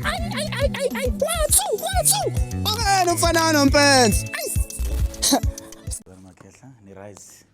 Ayi ayi ayi ayi ayi kwathu kwathu. Akena umfana nompenzi. Makhehla ni rise.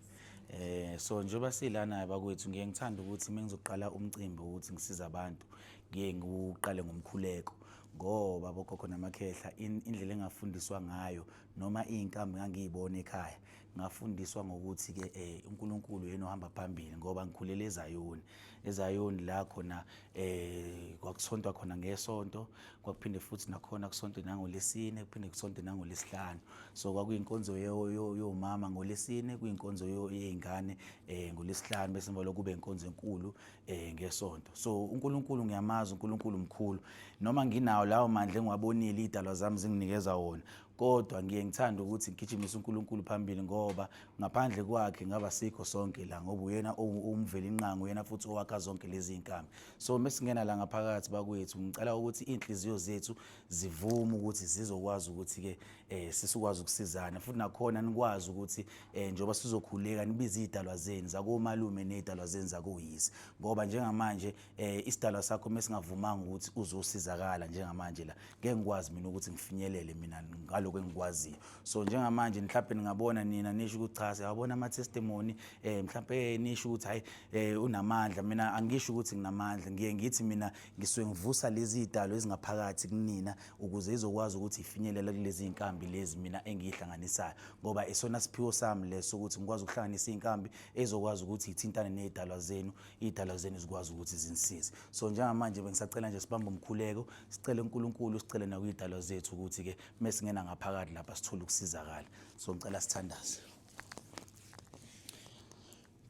Eh so njengoba silana bakwethu ngiye ngithanda ukuthi mengizoqala umcimbi ukuthi ngisiza abantu ngiye ngiwuqale ngomkhuleko ngoba bogogo namakhehla indlela engafundiswa ngayo noma izinkambi ngangiyibona ekhaya Ngafundiswa ngokuthi ke eh uNkulunkulu yena ohamba phambili ngoba ngikhulele eZayoni. EZayoni la khona eh kwakuthontwa khona ngesonto, kwakuphinde futhi nakhona kusonto nangoLesine, kuphinde kusonto nangoLesihlanu. So kwakuyinkonzo yomama ngoLesine, kuyinkonzo yezingane eh ngoLesihlanu bese emva lokube inkonzo enkulu eh ngesonto. So uNkulunkulu ngiyamazi, uNkulunkulu mkhulu. Noma nginawo lawo mandla engiwabonile idalwa zami zinginikeza wona, kodwa ngiye ngithande ukuthi ngigijimise uNkulunkulu phambili ngoba ngaphandle kwakhe ngaba sikho sonke la ngoba uyena umveli inqango uyena futhi owakha zonke lezi inkambi so mesingena la ngaphakathi bakwethu ngicela ukuthi inhliziyo zethu zivume ukuthi zizokwazi ukuthi ke eh sisikwazi ukusizana futhi nakhona nikwazi ukuthi eh njoba sizokhuleka nibize idalwa zenu zakomalume nedalwa zenu zakoyisi ngoba njengamanje eh isidalwa sakho mesingavumanga ukuthi uzosizakala njengamanje la ngeke ngikwazi mina ukuthi ngifinyelele mina ngaloko engikwaziyo so njengamanje mhlawumbe ningabona nina nisho ukuthi cha siyabona ama testimony eh mhlawumbe eh, nisho ukuthi hayi eh unamandla mina angisho ukuthi nginamandla ngiye ngithi mina ngisuke ngivusa lezi idalo ezingaphakathi kunina ukuze izokwazi ukuthi ifinyelele kulezi inkambi lezi mina engihlanganisayo ngoba isona siphiwo sami leso ukuthi ngikwazi ukuhlanganisa inkambi ezokwazi ukuthi ithintane nezidalwa zenu iy'dalwa zenu zikwazi ukuthi zinisize so njengamanje bengisacela nje sibambe umkhuleko sicele unkulunkulu sicele nakwiy'dalwa zethu ukuthi-ke uma singena ngaphakathi lapha sithole ukusizakala so ngicela sithandaze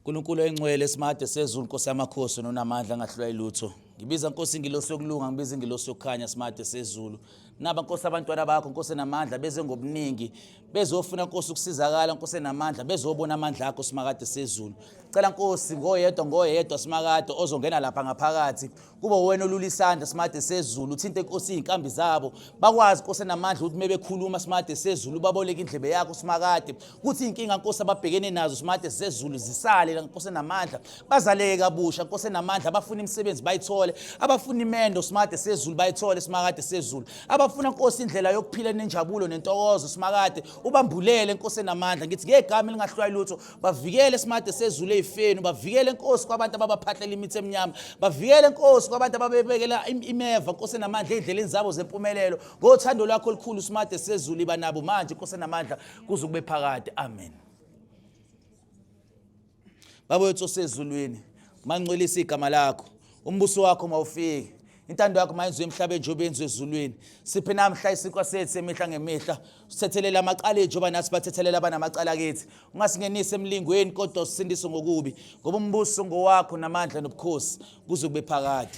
nkulunkulu oyingcwele esimade sezulu nkosi yamakhosi nonamandla angahlulwa yilutho ngibiza nkosi ingilosi yokulunga ngibiza ingilosi yokukhanya simade sezulu Naba Nkosi abantwana bakho Nkosi namandla beze ngobuningi bezofuna Nkosi ukusizakala Nkosi namandla bezobona amandla akho simakade sezulu cela Nkosi ngoyedwa ngoyedwa simakade ozongena lapha ngaphakathi kube wena olula isandla simakade sezulu uthinte Nkosi izinkambi zabo bakwazi Nkosi namandla ukuthi mebekhuluma simakade sezulu baboleke indlebe yakho simakade kuthi inkinga Nkosi ababhekene nazo simakade sezulu zisale Nkosi namandla bazaleke kabusha nkosi enamandla abafuna imisebenzi bayithole abafuna imendo simakade sezulu bayithole simakade sezulu abafuna nkosi indlela yokuphila enenjabulo nentokozo simakade ubambulele nkosi enamandla ngithi ngegama elingahlwayi lutho bavikele simakade sezulu eyifeni bavikele nkosi kwabantu ababaphahlela imithi emnyama bavikele nkosi kwabantu ababebekela imeva nkosi enamandla endleleni zabo zempumelelo ngothando lwakho olukhulu simakade sezulu iba nabo manje nkosi enamandla kuze kube phakade amen baba wethu osezulwini mangcwelisa igama lakho umbuso wakho mawufike intando yakho mayenziwe emhlabeni njengoba yenziwe ezulwini siphe namhla isinkwa sethu semihla ngemihla sithethelele amacala ethu njengoba nathi bathethelele abanamacala kithi ungasingenisi emlingweni kodwa usindise ngokubi ngoba umbuso ngowakho namandla nobukhosi kuze kube phakade